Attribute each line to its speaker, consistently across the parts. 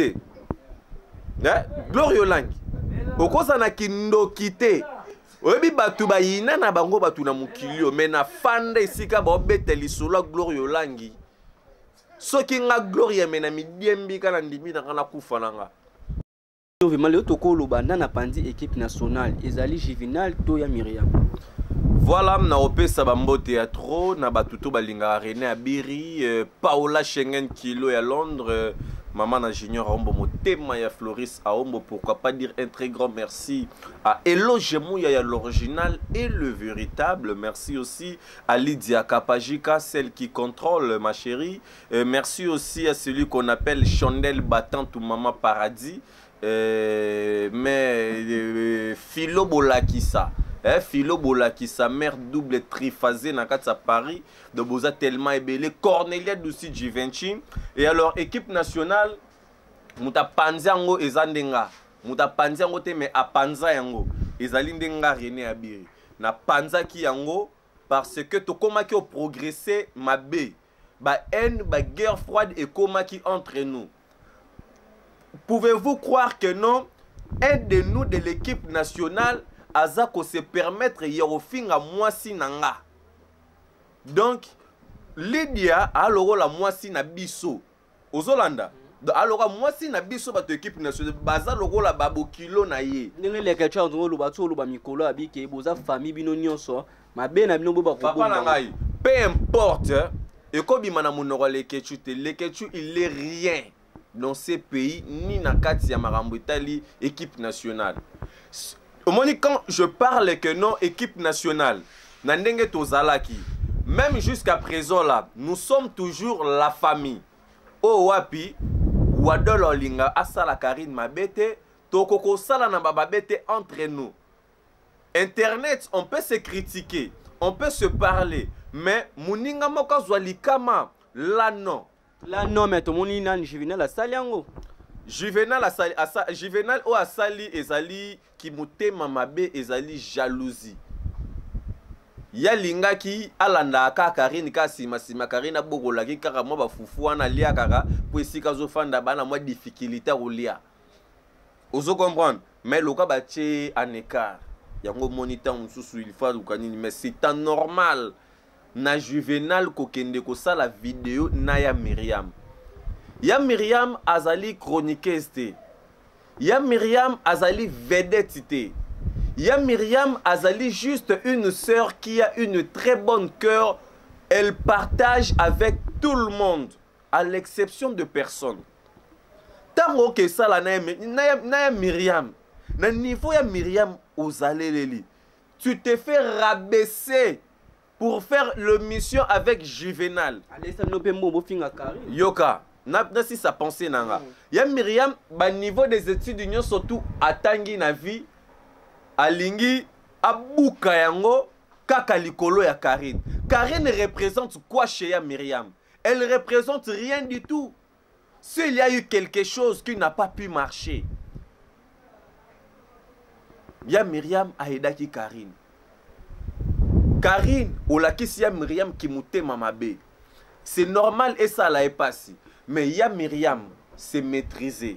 Speaker 1: te eh? gloire yolangi okosa na kindoki te oyebi bato bayina na bango bato na mokili oyo me na fanda esika baobeta lisolo ya gloire yolangi soki nga gloria me na midiembika na ndimi na nga nakufa na nga vraiment
Speaker 2: leo tokoloba nda na panzi équipe nationale ezali juvenal to ya miriam Voilà,
Speaker 1: na opesa ba mbote ya trop na batu to balinga René Abiri, euh, Paola Schengen Kilo ya Londres, euh, maman na Junior Aombo motema ya Floris Aombo, pourquoi pas dire un très grand merci à Eloge Mouya ya l'original et le véritable. Merci aussi à Lydia Kapajika, celle qui contrôle ma chérie. Euh, merci aussi à celui qu'on appelle Chandelle Battante ou Maman Paradis. Euh, mais euh, Philo Bolakisa. Eh, Philo Bolakisa, mère double triphasée na kati ya Paris. Donc boza tellement ebele. Cornelia Dusi Givenchy. Et alors, équipe nationale, moto apanzi yango eza nde nga. Moto apanzi yango te, mais apanza yango. Ezali nde nga René Abiri. Napanzaki yango parce que tokomaki oprogresse mabe. ba haine ba guerre froide ekomaki entre nous pouvez-vous croire que non un de nous de l'équipe nationale aza ko se permettre ya kofinga mwasi na nga donc lydia alokola mwasi na biso ozolanda alors ka mwasi na biso bato ekipe nationale baza lokola babokilo na ye ndenge lekechar ndenge oloba
Speaker 2: ti oloba mikolo abike boza fami bino nyonso mabe na bino bobapapa na ngai
Speaker 1: peu importe ekobima na monoko ya lekechu te lekechu il est rien dans ce pays ni na kati ya makambo etali équipe nationale omoni quand je parle que non équipe nationale na ndenge tozalaki même jusqu'à présent là nous sommes toujours la famille oyo oh, wapi wadol olinga asala karine mabe te toko kosala na bababe te entre nous internet on peut se critiquer on peut se parler mais moninga moko azwa likama là non la nome
Speaker 2: tomoni nani juvenal asali yango juvenal asali asa,
Speaker 1: juvenal oyo asali ezali kimotema mabe ezali jalousie ye alingaki alandaka kaka karine kaka nsimansima karine abokolaki kaka mwa bafufu wana alia kaka mpo esika azofanda bana mwa difficulté akolia ozo comprendre mais loka batie en écart yango omoni ntango mosusu ilfa aluka nini mais c'est en normal na juvenal kokende kosala video na ya miriam ya miriam azali chroniqueuse te ya miriam azali vedette te ya miriam azali juste une sœur qui a une très bonne cœur elle partage avec tout le monde à l'exception de personne ntango oke esala na ya miriam na niveau ya miriam ozaleleli tu te fais rabaisser pour faire l'émission avec juvenal alesa bino mpe mbongo
Speaker 2: bofinga kari yoka
Speaker 1: nasisa pensé na nga mm. ya miriam baniveau des études nyonso tu atangi na vie alingi abuka yango kaka likolo ya karine karine représente quoi chez ya miriam elle représente rien du tout S'il y a eu quelque chose qui n'a pas pu marcher, ya Myriam aidaki Karine. Karine olakisi ya Myriam kimutema mabe. C'est normal esala epasi, mais ya Myriam se maîtriser.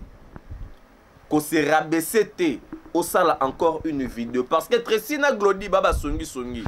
Speaker 1: ko se rabaisser te osala encore une vidéo parce que Tracy na Glody ba basongi songi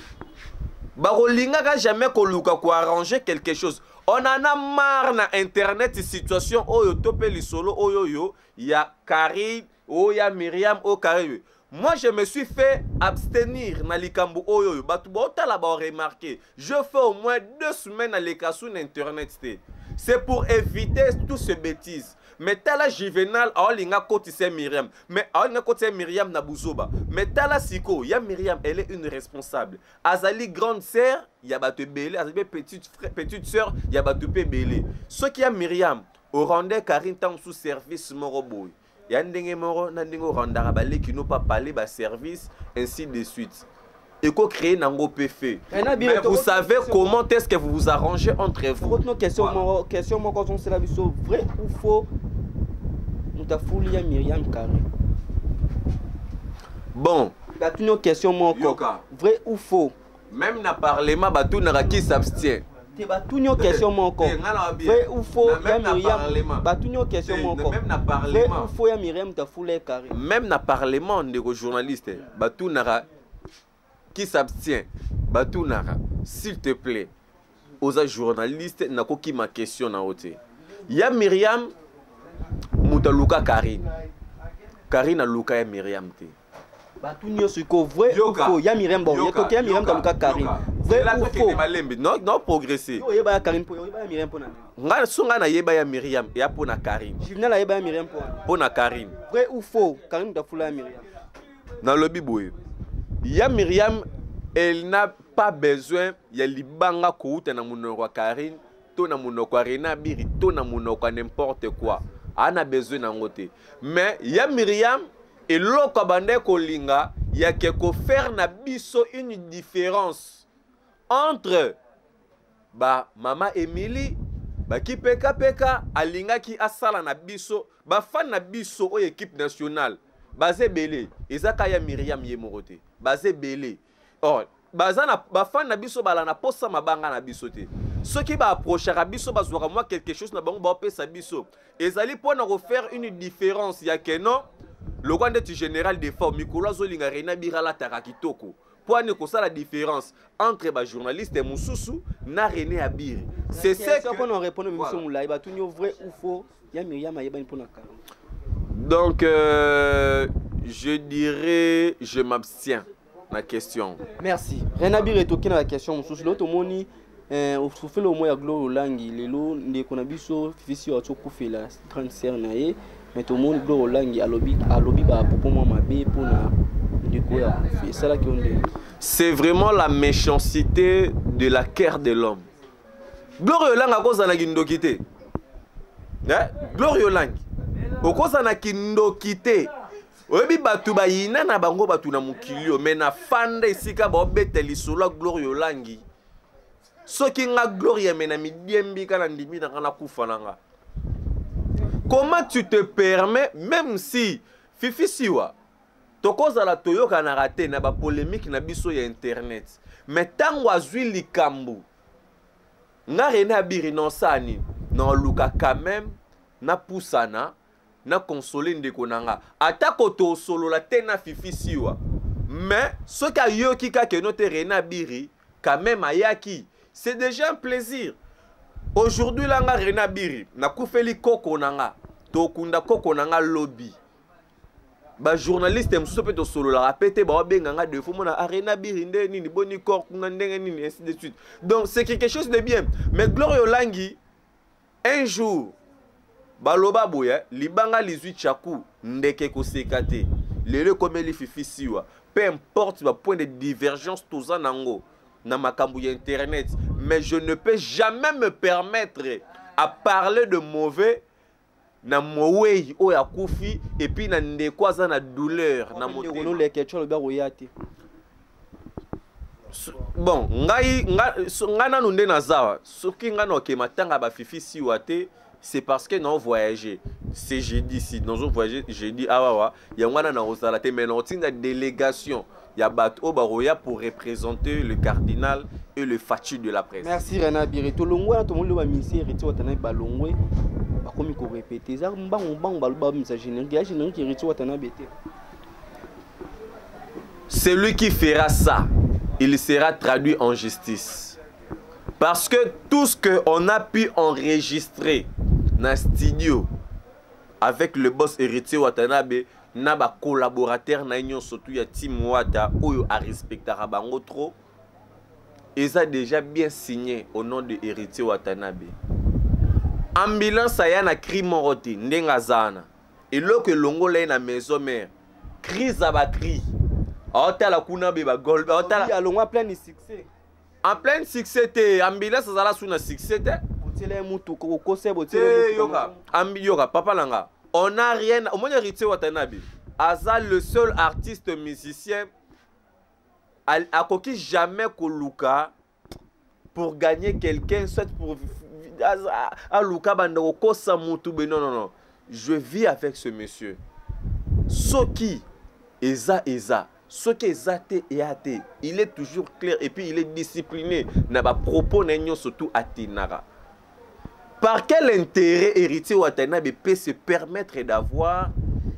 Speaker 1: bakolingaka jamais koluka koarranger quelque chose on en a marre na internet situation oyo to mpe lisolo oyo oyo ya Carrie oyo ya Myriam oyo Carrie Moi je me suis fait abstenir na likambo oyo oyo bato botala ba remarquer je fais au moins deux semaines aleka sous na internet te c'est pour éviter tout ce bêtise mais tala juvenal aolinga kotisa miriam mais aolinga kotisa miriam na buzoba mais tala siko ya miriam elle est une responsable azali grande sœur ya bato ebele azali mpe petite, petite sœur ya bato mpe ebele soki ya miriam orandais karine ntango mosusu service moko boye ya ndenge moko na ndenge orendaka baleki no pa pale baservice ainsi de suite eko créer nango mpe fe eh, mais vous savez comment est ce que vous vous arrangez entre vous
Speaker 2: question moko ozonsela biso vrai ou faux moto afuli ya miriam carré
Speaker 1: bon batuni yo question
Speaker 2: moko vrai
Speaker 1: ou
Speaker 2: faux meme
Speaker 1: na
Speaker 2: parlement batunaka
Speaker 1: qui
Speaker 2: s'abstient te batuni yo question moko vrai ou faux ya miriam batuni yo question moko vrai ou
Speaker 1: faux ya
Speaker 2: miriam
Speaker 1: tafula
Speaker 2: ye carré même na parlement
Speaker 1: ndeko journaliste batunaka qui s'abstient batunaka s'il te plaît oza journaliste nakokima question na yo te ya miriam moto aluka karine karine aluka ya miriam te bato nyonso
Speaker 2: iko vrai fo ya miriam boyetoke ya miriam taluka karine vraimalembe no progresse
Speaker 1: oyeba ya karine oyeba
Speaker 2: ya miriam mpona ngai so ngai nayeba
Speaker 1: ya miriam eya mpo na karine juvenal ayeba ya miriam
Speaker 2: mpo na karine
Speaker 1: vrai ou faux
Speaker 2: karine moto afula ya miriam nalobi
Speaker 1: boye ya miriam elle n'a pas besoin ya libanga kouta na monoko ya karine to na monoko ya rena biri to na monoko ya n'importe quoi ana besoin na yango te mais ya miriam eloko abandaki kolinga yake kofaire na biso une différence entre ba mama Emily bakipeka peka alingaki asala na biso bafani na biso oyo ekipe nationale baza ebele eza ka ya miriam ye moko te baza ebele or baza na bafani na biso bala na posa mabanga na biso te soki baaprochaka biso bazwaka mwa quelque chose na bango baopesa biso ezali mpo na kofaire une différence ya keno lokwa ndeti général defort mikolo azolinga reina bira alataka kitoko mpo ane kosala différence entre bajournaliste mosusu na rené abiri sesokona répondre miso
Speaker 2: molai batuni yo vrai ou faux ya miriam ayebani mpo na kalo donc
Speaker 1: euh, je dirais je m'abstiens na question merci rené
Speaker 2: abiri etoki na la question mosusu leo tomoni Eh, ofele omo ya gloire olangi lelo ndeko na biso fifisi oyo akufela grande sœur na ye mais tomoni gloire olangi alobi alobi bapopo mwa mabe mpo na ndeko oyo akufi esalaki yo ndenge c'est vraiment la
Speaker 1: méchancité de la care de l'homme gloire olangi akozala na kindoki te eh, gloire olangi okozala na kindoki te oyebi bato bayina na bango bato na mokili oyo me nafanda esika baobeta lisolo ya gloria olangi soki nga gloria me na midiembi ka na ndimi na nga nakufa na nga comment tu te permets même si fifi siwa tokozala toyokanaka te na bapolemike na biso ya internet me ntango azwi likambo nga rene abiri nonsani naoluka quand même napusana na console ndeko na nga atako tosolola te na fifi siwa mais soki ayoki kaka eno te rena biri quand même ayaki c'est déjà un plaisir aujourd'hui la nga rena biri nakufeli koko na nga tokunda koko na nga lobi bajournaliste mosusu mpe tosololaka mpe te baobenga nga defo mona arena biri nde nini boni corp kuna ndenge nini ainsi de suite donc c'est quelque chose de bien mais gloria olangi Un jour baloba boye libanga lizwi chaku ndeke koseka te lelo ekomeli fifi siwa peu importe ba point de divergence toza nango na makambo ya internet mais je ne peux jamais me permettre à parler de mauvais na mowei oyo akufi epuis na ndeko aza na douleur na motemaloleketio alobi akoya
Speaker 2: te
Speaker 1: bon ngai ngai so, nga nanu nde nazawa soki ngai naoke matanga bafifi siwa te c'est parce que nao voyage c'est jeudi si nazo voyage jeudi awawa yango wana nakozala te mais nakotinda délégation ya bato oyo bakoya pour représenter le cardinal et le faci de la presse merci rena bire
Speaker 2: tolongwe wana tomoni loba misie héritier watanabe balongwe bakomi korepete eza mbangu mbangu baloba bamisa générique ya générique héritier watanabe te
Speaker 1: celui qui fera ça, il sera traduit en justice. Parce que tout ce qu'on a pu enregistrer dans le studio avec le boss héritier Watanabe, na ba collaborateurs na union surtout ya Tim Wata oyo a respectaka bango trop eza déjà bien signé au nom de héritier Watanabe ambulance aya na cri moko te ndenge aza wana eloko elongola ye na maison mère crise ya batrie aotala kuna be bagol alongwa pleine succès
Speaker 2: en pleine
Speaker 1: succès te ambulance azala su na succès
Speaker 2: te yoka
Speaker 1: papa na nga on a rien omoni héritier watanabe aza le seul artiste musicien akoki jamais koluka pour gagner quelqu'un soit pour aluka ah, banda kokosa mutu be non non non je vis avec ce monsieur soki eza eza soki eza te eya te il est toujours clair et puis il est discipliné na bapropos na ye nyonso tu atinaka par quel intérêt héritier watanabe peut se permettre d'avoir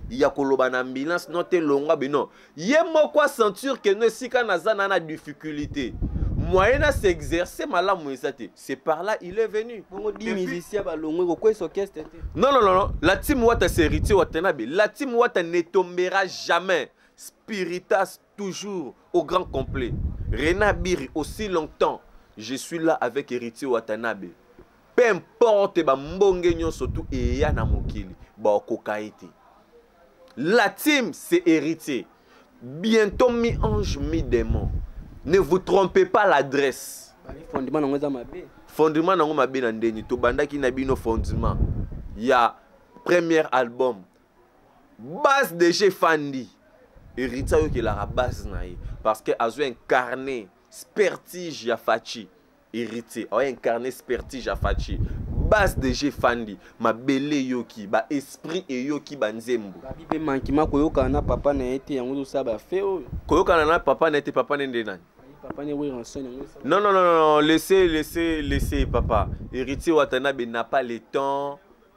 Speaker 1: ya koloba na ambulance non te longwa be non ye moko asentir ke no esika naza na na difficulté moyen na s'exercer malamu eza te c'est par là il est venu bongo di musicien balongwe kokwesa orchestre te non non non la team wata c'est héritier watanabe la team wata ne tombera jamais spiritas toujours au grand complet rena biri aussi longtemps je suis là avec héritier watanabe peu importe bambonge nyonso tu eya na mokili baokoka ye te La team, c'est héritier. Bientôt mi-ange, mi-démon. Ne vous trompez pas l'adresse. Fondement nango eza
Speaker 2: mabe. Fondement nango mabe
Speaker 1: na ndeni to bandaki na bino fondement ya premier album. Base de chez Fandi. Héritier yo kelaka base na ye parce que azo incarner spertige ya Fachi. Héritier, a incarné spertige à Fatshi. Base de G Fandi, ma belle yoki, ba esprit et yoki ba nzembo. Babi pe manki ma
Speaker 2: koyoka na papa na été yango zo saba fe oyo. Koyoka na papa
Speaker 1: na été papa ne nde nani? Papa ne oui rançon
Speaker 2: yango. Non non non non,
Speaker 1: laissez laissez laissez papa. Héritier Watanabe n'a pas le temps.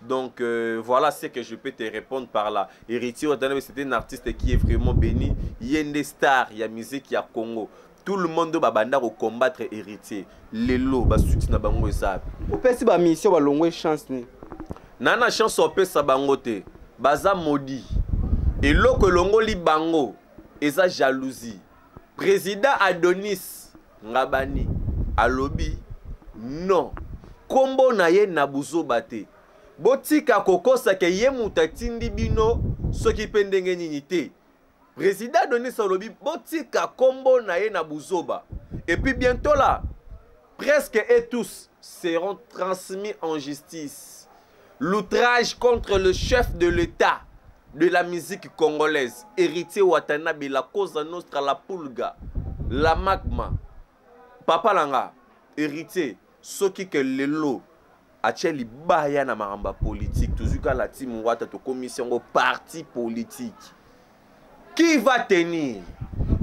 Speaker 1: Donc euh, voilà ce que je peux te répondre par là. Héritier Watanabe, c'était un artiste qui est vraiment béni. Yende star, il y a musique, il y a Congo. Tout le monde doit banda au combattre héritier. Lelo, ba succès na bango eza. Opesi ba mission
Speaker 2: ba longwe chance ni. Nana chance
Speaker 1: opesa bango te. Baza maudit. Eloko elongoli bango eza jalousie. President Adonis Ngabani alobi non kombo na ye na buzoba te botika kokosa ke ye moto atindi bino soki mpe ndenge nini te président adonis alobi botika kombo na ye na buzoba et puis bientôt là presque et tous seront transmis en justice L'outrage contre le chef de l'État de la musique congolaise, héritier Watanabe, la cosa nostra, la pulga, la magma. Papa Langa, héritier, soki ke lelo atia libaya na makambo ya politike tozwi kala ti mongwata tokomisi yango parti politike qui va tenir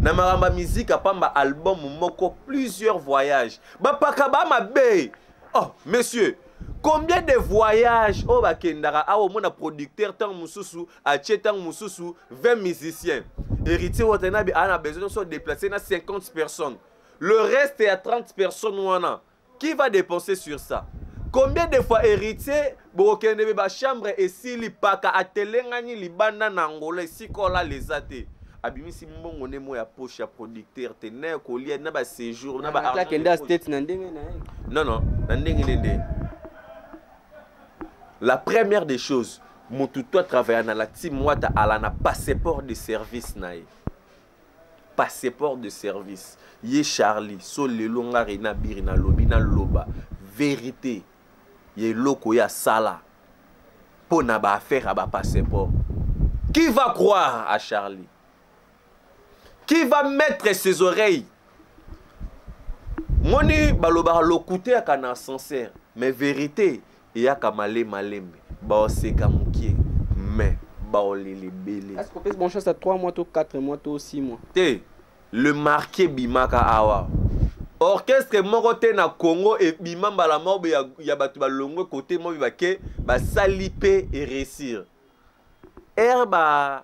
Speaker 1: na makambo ya mizika mpamba album moko plusieurs voyages bapaka ba mabe oh monsieur combien de voyages oyo bakendaka awa omona producteur ntango mosusu atie ntango mosusu 20 musiciens héritier watanabe aa na besoin nyonso déplace na 50 personnes le reste ya 30 personnes wana Qui va dépenser sur ça? Combien de fois héritier bokokende be ba chambre esili paka atelengani libanda na Angola esikola leza te. abimisi mbongo nde mo ya poche ya producteur te na ya kolia na ba séjour na ba akende ya state na ndenge
Speaker 2: na ye non non na
Speaker 1: ndenge nde nde la première des choses motu to atravailla na la team wata ala na passeport de service na ye passeport de service ye charlie so lelo nga rena biri nalobi naloba verité ya eloko ya sala mpo na baaffaire ya bapasseport qui va croire à charlie qui va mettre ses oreilles moni balobaka lokuta yaka na ascenseur mais verité eyaka male malembe baoseka mokie mais baolela ebele Est-ce qu'on peut se brancher ça 3
Speaker 2: mois, tout 4 mois, tout 6 mois te le
Speaker 1: marqué bimaka awa orchestre moko te na congo ebima mbala moko boye ya, ya bato balongwe kote moko bake basali mpe eressir ere ba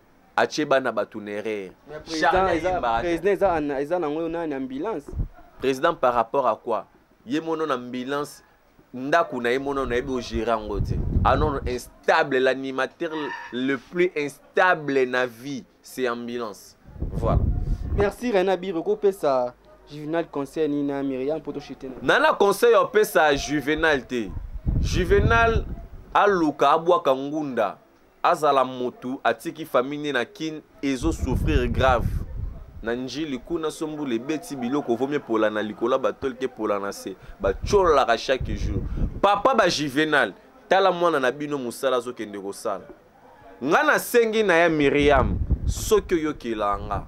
Speaker 1: atie bana bato neree président
Speaker 2: eza nango nani ambulance président par
Speaker 1: rapport à quoi ye mono na ambulance ndako na ye mono nayebi ogere yango te anon ah instable l'animateur le plus instable na vie c'est ambulance voilà merci rena
Speaker 2: biro kopesa juvenal conseil nini na miriam mpo toshite na na conseil
Speaker 1: opesa juvenal te juvenal aluka abwaka ngunda azala mutu atiki famille ne na kin ezo souffrir grave na njili kuna sombula ebeti biloko vomi epola na likolo ya batole te epola na se batyololaka chaque jour papa bajuvenal tala mwana na bino mosala azokende kosala ngai nasengi na ya miriam soki oyokela nga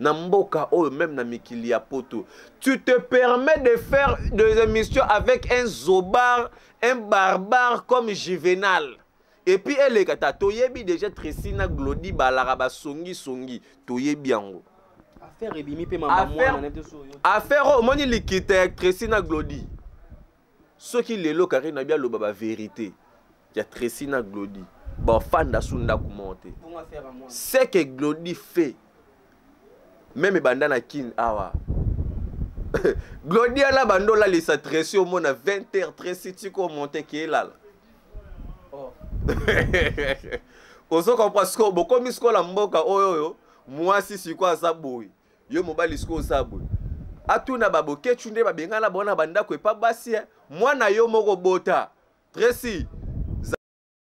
Speaker 1: na mboka oyo meme na mikili ya poto tu te permets de faire des émissions avec un zobar un barbare comme juvenal epuis eleka ta toyebi déjà tracy na glodi balaka basongisongi toyebi yango affaire ebimi
Speaker 2: mpe mama mwana affaire oyo omoni
Speaker 1: likita ya tracy na glodi soki lelo karine nabi aloba ba verité ya tracy na glodi bafanda su ndako moko te ce que glodi fait meme ebanda na kin awa glodi ana banda olalisa tracy omona 20 heure tracy tika omonte ke elala oh. ozo comprendre sikoyo bokomi sikoyo na mboka oyo oyo mwasi sikoyo aza boye yo mobali sikoyo osala boye atuna babokechu nde babengana bango na bandako epa basi eh. mwana yo moko bota tresi